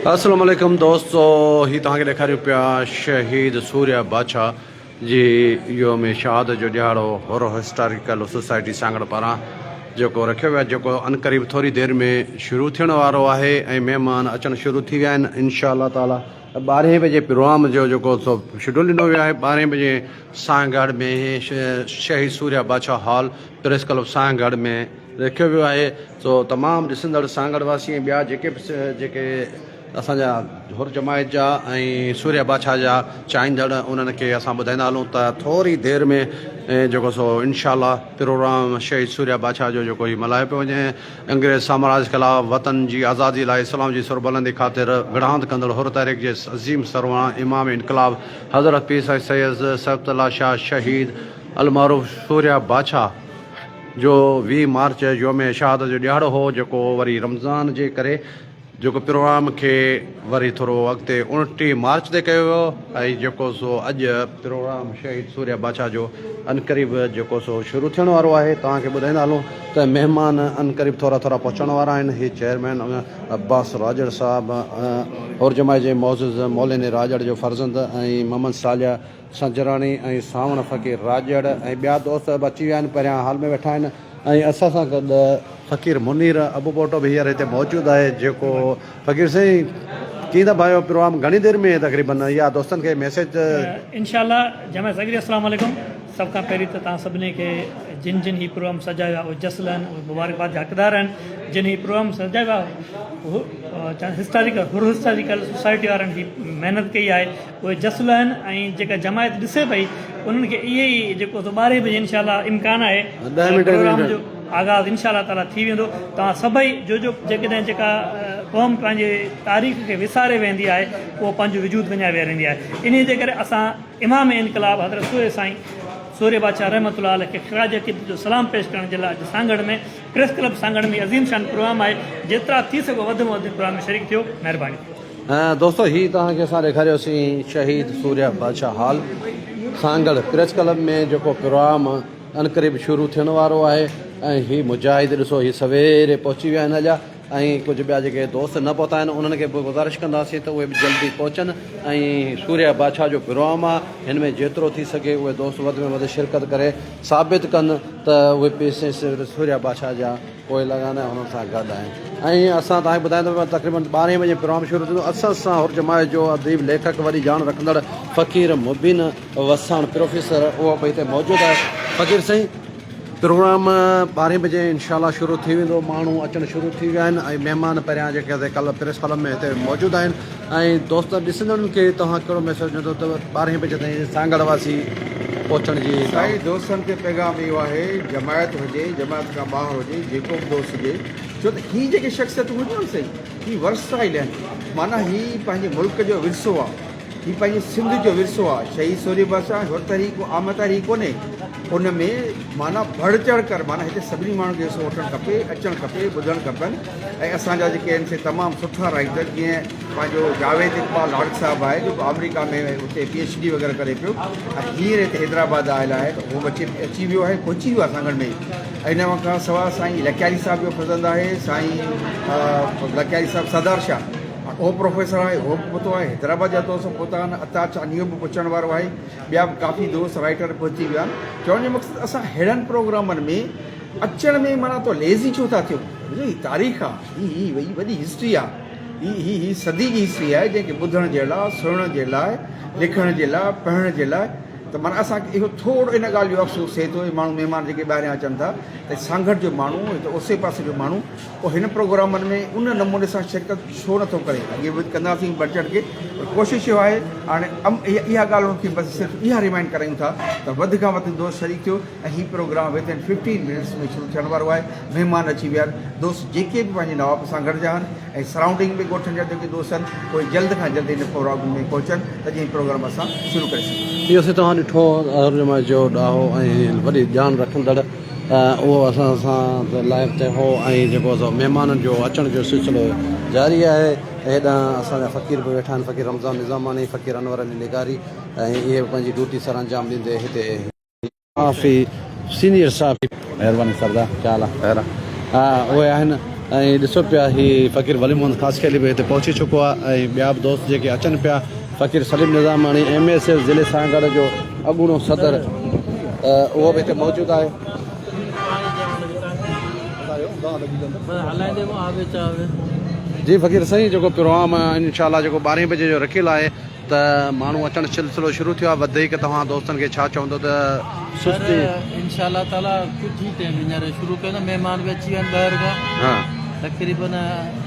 اسلام عليڪم دوستو هي توهان کي ڏيکاريون پيا شهيد سوريا باڇا جي يوم شهادت جو ڏهاڙو هورو هسٽاريڪل سوسائٽي سانگهڙ پاران جيڪو رکيو ويو آهي جيڪو انقريب ٿوري دير ۾ شروع ٿيڻ وارو آهي ۽ مهمان اچڻ شروع ٿي ويا آهن انشاء الله تعالي ٻارهين بجي پروگرام جو جيڪو سو شيڊول ڏنو ويو آهي ٻارهين بجي Sanghar ۾ Shaheed Soorhiya Badshah hall press club Sanghar ۾ رکيو ويو آهي سو تمام ڏسندڙ سانگهڙ واسي ۽ ٻيا جيڪي به جيڪي اسان جا حر جماعت جا ۽ سورهيه بادشاهه جا چاهيندڙ انهن کي اسان ٻڌائيندا هلون ته ٿوري دير ۾ جيڪو سو انشاء الله پروگرام شهيد سورهيه بادشاهه جو جيڪو هي ملهايو پيو وڃي انگريز سامراج خلاف وطن جي آزادي لاء اسلام جي سربلندي خاطر وڙهاند ڪندڙ حر تحريڪ جي عظيم سرواڻ امام انقلاب حضرت پير سائين سيد صيبت الله شاهه شهيد المعروف سورهيه بادشاهه جو ويهه مارچ يوم شهادت جو ڏهاڙو هو جيڪو وري رمضان جي ڪري جيڪو پروگرام کي وري ٿورو اڳتي اڻٽيهه مارچ تي ڪيو ويو ۽ جيڪو سو اڄ پروگرام شهيد سوريا بادشاهه جو عنقريب جيڪو سو شروع ٿيڻ وارو آهي توهان کي ٻڌائيندا هلون ته مهمان عنقريب ٿورا ٿورا پهچڻ وارا آهن هي چيئرمين عباس راڄڙ صاحب هورجماعي جي معزز مولين راڄڙ جو فرزند ۽ محمد صالح سنجراڻي ۽ سانوڻ فقير راڄڙ ۽ ٻيا دوست به اچي ويا آهن پهريان هال ۾ ويٺا آهن ۽ اسان سان گڏ فقير منير ابوپوٽو به هينئر هتي موجود آهي جيڪو فقير سائين ڪيئن ٿا ڀايو پروگرام گهڻي دير ۾ تقريبن يا دوستن کي ميسيج انشاء الله جمع سڳري السلام عليڪم سڀ کان پهرين ته توهان سڀني کي جن جن هي پروگرام سجايو آهي اهي جس لهن اهي مبارڪباد جا حقدار آهن جن هي پروگرام سجايو آهي هو هسٽاريڪل هر هسٽاريڪل سوسائٽي وارن هي محنت ڪئي آهي اهي جسل آهن ۽ جيڪا جماعت ڏسي پئي انهن کي اهي ئي جيڪو سو ٻارهي بجي انشاء الله امڪان آهي ته پروگرام جو آغاز انشاء الله تعالي ٿي ويندو توهان سڀئي جو جو جيڪڏهن جيڪا قوم پنهنجي تاريخ کي وساري ويهندي آهي اهو پنهنجو وجود وڃائي ويهاريندي آهي انهي جي ڪري اسان امام انقلاب حضرت سوري سائين سوري بادشاهه رحمت الله عليه کي خراج عقيدت جو سلام پيش ڪرڻ جي لاء اڄ سانگهڙ ۾ پريس ڪلب سانگهڙ ۾ هي عظيم شان پروگرام آهي جيترا ٿي سگهو وڌ ۾ وڌ پروگرام ۾ شريڪ ٿيو مهرباني. دوستو هي توهان کي اسان ڏيکاريو سين Shaheed Soorhiya Badshah hall Sanghar press club ۾ جيڪو پروام عنقريب شروع ٿيڻ وارو آهي ۽ هي مجاهد ڏسو هي سويري پهچي ويا آهن اڄ ۽ ڪجهه ٻيا جيڪي دوست نه پهتا آهن انهن کي به گذارش ڪنداسين ته اهي به جلدي پهچن ۽ سوريا بادشاهه جو پروام آهي هن ۾ جيترو ٿي سگهي اهي دوست وڌ ۾ وڌ شرڪت ڪري ثابت ڪن ته اهي پيسي سوريا بادشاهه جا پوء لڳاندا آهيون انهن سان گڏ آهيون ۽ اسان تهان کي ٻڌائين ته ته تقريبن ٻارهين بجي پروگرام شروع ٿيندو اسان سان هر جماعت جو اديب ليکڪ وڏي ڄاڻ رکندڙ فقير مبين وساڻ پروفيسر اهو به هتي موجود آهي فقير سائين پروگرام ٻارهين بجي انشاء الله شروع ٿي ويندو ماڻهو اچڻ شروع ٿي ويا آهن ۽ مهمان پهريان جيڪي ڪلهه پريس ڪلب ۾ هتي موجود آهن ۽ دوستن ڏسندڙن کي توهان ڪهڙو ميسيج ڏيندو ته ٻارهين بجي تائين سانگهڙ واسي پهچڻ جي سائين دوستن کي پيغام اهو آهي جماعت هجي جماعت کان ٻاهر هجي جيڪو به دوست هجي ڇو ته هي جيڪي شخصيتون هجون نه سائين هي ورسائيل آهن معنيٰ هي پنهنجي ملڪ جو ورثو آهي هي پنهنجي سنڌ جو ورثو آهي شهيد سورهيه بادشاهه هر تحريڪ عام تحريڪ ڪونهي ان ۾ معنيٰ بڙ چڙ ڪر معنيٰ هتي سڀني ماڻهن کي حصو وٺڻ کپي اچڻ کپي ٻڌڻ کپن ۽ اسان جا جيڪي آهن سي تمام سٺا رائيٽر جيئن پنهنجو جاويد اقبال لاڙڪ صاحب آهي جو آمريڪا ۾ اتي پي ايڇ ڊي وغيره ڪري پيو ۽ هينئر هتي حيدرآباد آيل آهي ته هو اچي اچي ويو آهي پهچي ويو آهي اسان گهر ۾ ۽ ان کان سواء سائين لڪياري صاحب جو فرزند آهي سائين لڪياري صاحب سردار شاهه اهو پروفيسر آهي اهو به پهتو آهي حيدرآباد جا دوست به پهتا آهن عطا چانيو به پهچڻ وارو آهي ٻيا به ڪافي دوست رائيٽر پهچي ويا آهن چوڻ جو مقصد اسان ههڙن پروگرامن ۾ اچڻ ۾ معنيٰ تو ليزي ڇو ٿا ٿيون. ڏسو هي تاريخ آ هي هي هي وڏي هسٽري آ هي هي هي صدي جي هسٽري آهي جنهن کي ٻڌڻ جي لاء سڻڻ جي لاء لکڻ جي لاء پڙهڻ جي لاء ته معنيٰ اسان کي اهو ٿورڙو ان ڳالهه جو افسوس ٿئي ٿو هي ماڻهو مهمان جيڪي ٻاهريان اچن ٿا ته سانگهڙ جو ماڻهو هت اوسي پاسي جو ماڻهو اهو هن پروگرامن ۾ ان نموني سان شرڪت ڇو نه ٿو ڪري اڳي به ڪنداسين بڙ چڙهه ڪي پر ڪوشش اهو آهي هاڻي اها ڳالهه ان کي بس صرف اها ريمائنڊ ڪرايون ٿا ته وڌ کان وڌ دوست شريڪ ٿيو ۽ هي programme within fifteen minutes ۾ شروع ٿيڻ وارو آهي مهمان اچي ويا آهن دوست جيڪي به پنهنجي نواب سان گڏجا آهن ۽ سرائونڊنگ ۾ ڳوٺن جا جيڪي دوست آهن اهي جلد کان جلد ان پروگرام ۾ پهچن ته جيئن پروگرام اسان شروع ڪري سگهون. اهو سي توهان ڏٺو ترجمه جو ڏاهو ۽ وڏي ڄاڻ رکندڙ اهو اسان سان ته لائيو تي هو ۽ جيڪو سو مهمانن جو اچڻ جو سلسلو جاري آهي ۽ هيڏانهن اسان جا فقير به ويٺا آهن فقير رمضان نظاماڻي فقير انور علي لغاري ۽ اهي به پنهنجي ڊيوٽي سرانجام ڏيندي هتي صحافي سينيئر صحافي مهرباني سردار ڪيا حال آ خير آ اهي آهن ۽ ڏسو پيا هي فقير ولي محمد خاصخيلي به هتي پهچي چڪو آ ۽ ٻيا به دوست جيڪي اچن پيا Faqir Saleem Nizamani M S F ضلعي سانگهڙ جو اڳوڻو صدر اهو به هتي موجود آهي جي فقير سائين جيڪو پروگرام انشاء الله جيڪو ٻارهين بجي جو رکيل آهي ته ماڻهو اچڻ سلسلو شروع ٿيو آهي وڌيڪ توهان دوستن کي ڇا چوندو ته سستي سر انشاء الله تعالي ڪجهه ئي ٽيم هينئر شروع ڪيو ته مهمان به اچي ويا آهن ٻاهر کان ها تقريبن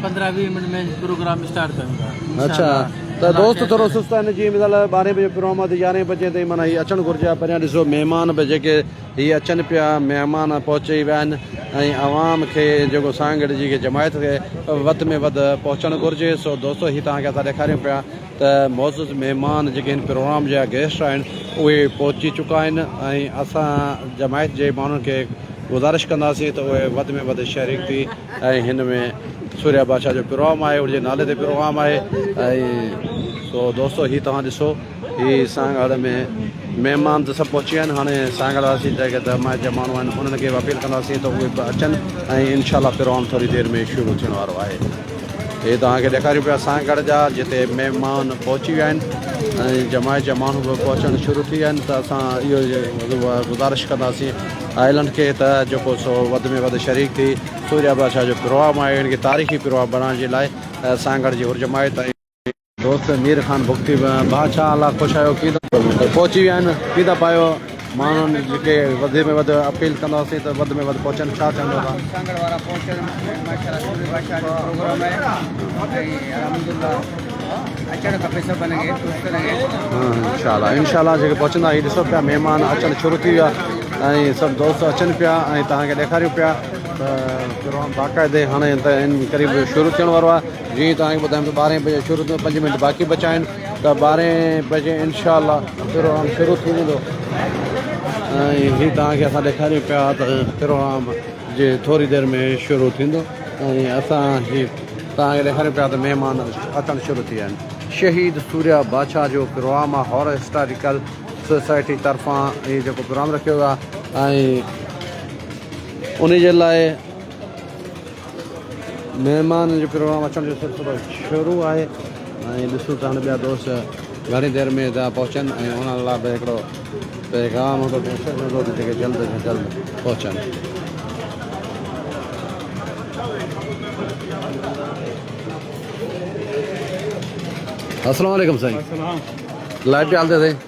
پندرهن ويهه منٽ ۾ پروگرام اسٽارٽ ڪيون ٿا انشاء اڇا الله ته ڪلاڪ دوست کن ٿورو سست آهن جيئن مثال ٻارهين بجي پروگرام آهي ته يارهين بجي تائين معنيٰ هي اچڻ گهرجي ها پريان ڏسو مهمان به جيڪي هي اچن پيا مهمان پهچي ويا آهن ۽ عوام کي جيڪو سانگهڙ جي جماعت کي وڌ ۾ وڌ پهچڻ گهرجي سو دوستو هي توهان کي اسان ڏيکاريون پيا ته معزز مهمان جيڪي هن پروگرام جا گيسٽ آهن اهي پهچي چڪا آهن ۽ اسان جماعت جي ماڻهن کي گذارش ڪنداسين ته اهي وڌ ۾ وڌ شريڪ ٿي ۽ هن ۾ سوريا بادشاهه جو پروگرام آهي ان جي نالي تي پروگرام آهي ۽ سو دوستو هي توهان ڏسو هي سانگهڙ ۾ مهمان ته سڀ پهچي ويا آهن هاڻي سانگهڙ واسي جيڪي جماعت جا ماڻهو آهن انهن کي به اپيل ڪنداسين ته اهي به اچن ۽ انشاء الله پروگرام ٿوري دير ۾ شروع ٿيڻ وارو آهي هي توهان کي ڏيکاريون پيا سانگهه ڳڙهه جا جتي مهمان پهچي ويا آهن ۽ جماعت جا ماڻهو به پهچڻ شروع ٿي ويا آهن ته اسان اهو گذارش ڪنداسين آئلنڊ کي ته جيڪو سو وڌ ۾ وڌ شريڪ ٿي سوريا بادشاهه جو پروگرام آهي ان کي تاريخي پروگرام بنائڻ جي لاء سانگهڙ جي هر جماعت ۽ دوست مير خان بگٽي به بادشاهه الله خوش آيو ڪيدا پهچي ويا آهن ڪيدا پايو ماڻهن جيڪي وڌ ۾ وڌ اپيل ڪنداسين ته وڌ ۾ وڌ پهچن ڇا چوندو ها سانگهڙ وارا پهچن ماشاءالله سوري بادشاهه جو پروگرام آهي الحمدلله اچڻ کپي سڀن کي دوستن کي انشاءالله انشاءالله جيڪي پهچندا هي ڏسو پيا مهمان اچڻ شروع ٿي ويا ۽ سڀ دوست اچن پيا ۽ توهان کي ڏيکاريون پيا ته پروگرام باقاعدي هاڻي ته ان قريب شروع ٿيڻ وارو آهي جيئن ئي توهان کي ٻڌايم ته ٻارهين بجي شروع ٿيندو پنج منٽ باقي بچا آهن ته ٻارهين بجي انشاء الله پروگرام شروع ٿي ويندو ۽ هي توهان کي اسان ڏيکاريون پيا ته پروگرام جي ٿوري دير ۾ شروع ٿيندو ۽ اسان هي توهان کي ڏيکاريون پيا ته مهمان اچڻ شروع ٿي ويا آهن شهيد سوريا بادشاهه جو پروگرام آهي هارر هسٽاريڪل سوسائٽي طرفان هي جيڪو پروگرام رکيو ويو آهي ۽ ان جي لاء مهمانن جو پروگرام اچڻ جو سلسلو شروع آهي ۽ ڏسون ته هاڻي ٻيا دوست گهڻي دير ۾ ٿا پهچن ۽ انهن لاء به هڪڙو پيغام هوندو ميسيج هوندو ته جيڪي جلد کان جلد پهچن. السلام عليڪم سائين لائٽ جي حالت سائين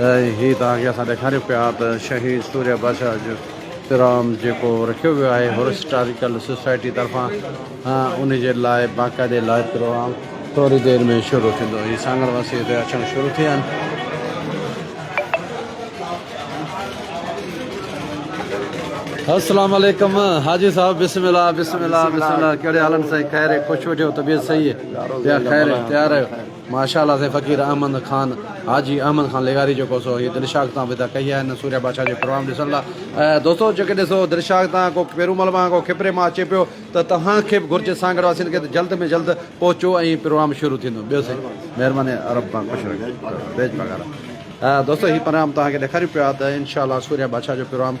هي توهان کي اسان ڏيکاريون پيا ته شهيد سوريا بادشاهه جو پروام جيڪو رکيو ويو آهي هرسٽاريڪل سوسائٽي طرفان ان جي لاء باقاعدي لائيو پروام ٿوري دير ۾ شروع ٿيندو هي سانگهڙ واسي هتي اچڻ شروع ٿيا آهن. السلام عليڪم حاجي صاحب بسم الله بسم الله بسم الله ڪهڙي حال آهن سائين خير خش وٺيو طبيعت صحيح يا خير تيار آهيو. ماشاء الله سي فقير احمد خان حاجي احمد خان لغاري جيڪو سو هي دلشاغ تان ودا ڪئي آهي هن سوريا بادشاهه جو پروام ڏسڻ لا دوستو جيڪي ڏسو دلشاغ تان ڪو پيرومل مان ڪو کپري مان اچي پيو ته توهان کي به گهرجي سانگهڙ واسين کي ته جلد ۾ جلد پهچو ۽ پروام شروع ٿيندو ٻيو سي مهرباني رب تان خوش رکي دوستو هي پروام توهان کي ڏيکاريون پيا ته انشاء الله سوريا بادشاهه جو پروام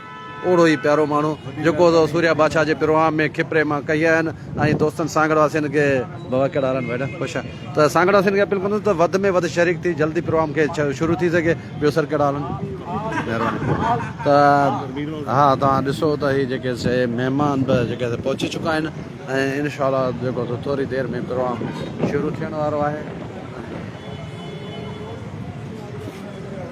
اوڙو ئي پيارو ماڻهو جيڪو اٿو سوريا بادشاهه جي پروهام ۾ کپري مان ڪهي آيا آهن ۽ دوستن سانگهڙ واسين کي بابا ڪهڙا حال آهن ڀائيڙا خوش آهيان ته سانگهڙ واسين کي اپيل ڪندس ته وڌ ۾ وڌ شريڪ ٿي جلدي پروهام کي شروع ٿي سگهي ٻيو سر ڪهڙا حال آهن مهرباني ته ها توهان ڏسو ته هي جيڪي سي مهمان به جيڪي سي پهچي چڪا آهن ۽ انشاء الله جيڪو سو ٿوري دير ۾ پروهام شروع ٿيڻ وارو آهي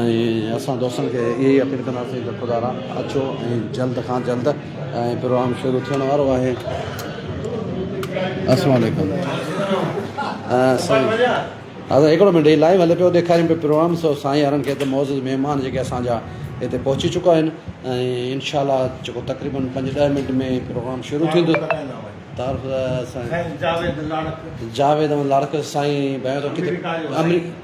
۽ اسان دوستن کي اهي ئي اپيل ڪنداسين ته خدا را اچو ۽ جلد کان جلد ۽ پروگرام شروع ٿيڻ وارو آهي السلام عليڪم سائين هاضر هڪڙو منٽ هي لائيو هلي پيو ڏيکاريم پيو پروگرام سو سائين يارن کي ته معزز مهمان جيڪي اسان جا هتي پهچي چڪا آهن ۽ ان شاء الله جيڪو تقريبن پنج ڏهه منٽ ۾ پروگرام شروع ٿيندو تعارف سائين جاويد احمد لاڙڪ سائين بيان ٿو ڪٿي آمريڪا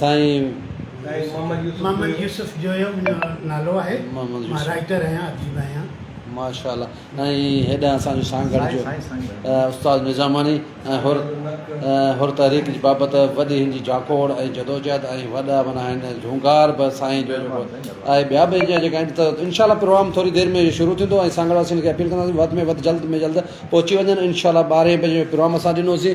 سائين محمد يوسف جويو منهنجو نالو آهي مان رائيٽر آهيان اديب آهيان. ماشاء الله ۽ هيڏانهن اسان جو سانگهڙ جو استاد نظاماڻي ۽ حر حر تحريڪ جي بابت وڏي هن جي جاکوڙ ۽ جدوجهد ۽ وڏا معنيٰ هن جهونگار به سائين جو جيڪو آهي ٻيا به اجيا جيڪا آهن ته انشاء الله پروگرام ٿوري دير ۾ شروع ٿيندو ۽ سانگهڙ واسين کي اپيل ڪنداسين وڌ ۾ وڌ جلد ۾ جلد پهچي وڃن انشاء الله ٻارهين بجي پروگرام اسان ڏنوسين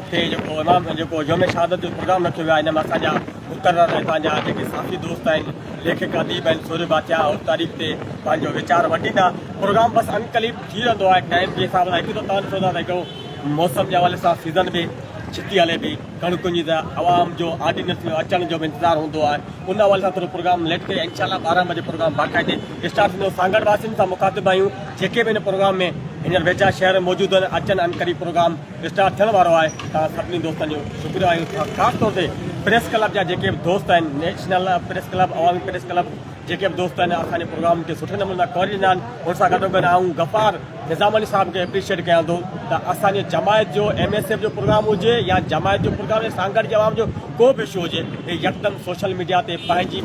اتي جيڪو امام جيڪو يوم شهادت جو پروگرام رکيو ويو آهي ان ۾ اسان جا مقرر هتان جا جيڪي ساٿي دوست آهن ليکڪ اديب آهن سورهيه ڀاتيا ان تاريخ تي پنهنجو ويچار ونڊيندا پروگرام بس انقليب ٿي رهندو آهي ٽائيم جي حساب سان هڪ ته تان ڏسو ٿا ته موسم جي حوالي سان سيزن به ڇتي هلي پئي ڪڻڪن جي ته عوام جو آڊينس جو اچڻ جو به انتظار هوندو آهي ان حوالي سان ٿورو پروگرام ليٽ ڪري انشاءالله ٻارهن بجي پروگرام باقاعدي اسٽارٽ ٿيندو سانگهڙ واسين سان مخاطب آهيون جيڪي به هن پروگرام ۾ هينئر ويجها شهر موجود آهن اچن انقريب پروگرام اسٽارٽ ٿيڻ وارو آهي توهان سڀني دوستن جو شڪريو آهيون ٿا خاص طور تي پريس ڪلب جا جيڪي به دوست آهن national press club Awami press club جيڪي به دوست آهن اسان جي پروگرام کي سٺي نموني سان ڪوريج ڏنا آهن ان سان گڏو گڏ آئون غفار نظام علي صاحب کي اپريشيئٽ ڪيان ٿو ته اسان جي جماعت جو ايم ايس ايف جو پروگرام هجي يا جماعت جو پروگرام يا سانگھڙ جي عوام جو ڪو به اشو هجي هي يڪدم سوشل ميڊيا تي پنهنجي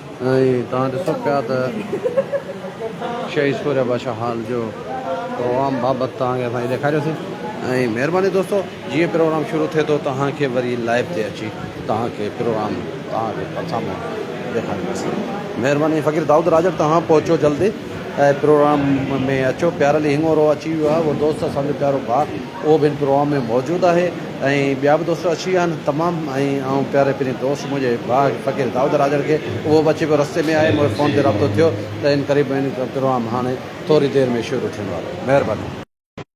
۽ توهان ڏسو پيا ته شهيد سوريا بادشاهه هال جو پروگرام بابت توهان کي اسان ڏيکاريوسين ۽ مهرباني دوستو جيئن پروگرام شروع ٿئي ٿو توهان کي وري لائيو تي اچي توهان کي پروگرام توهان کي پرسامو ڏيکارينداسين مهرباني فقير دائود راڄڙ توهان پهچو جلدي پروگرام ۾ اچو پيارلي هڱورو اچي ويو آهي اهو دوست اسان جو پيارو ڀاء اهو به هن پروگرام ۾ موجود آهي ۽ ٻيا به دوست اچي ويا آهن تمام ۽ آئون پياري پرين دوست منهنجي ڀاء فقير دائود راڄڙ کي اهو به اچي پيو رستي ۾ آهي مونکي فون تي رابطو ٿيو ته ان قريب ۾ پروگرام هاڻي ٿوري دير ۾ شروع ٿيڻ وارو آهي مهرباني.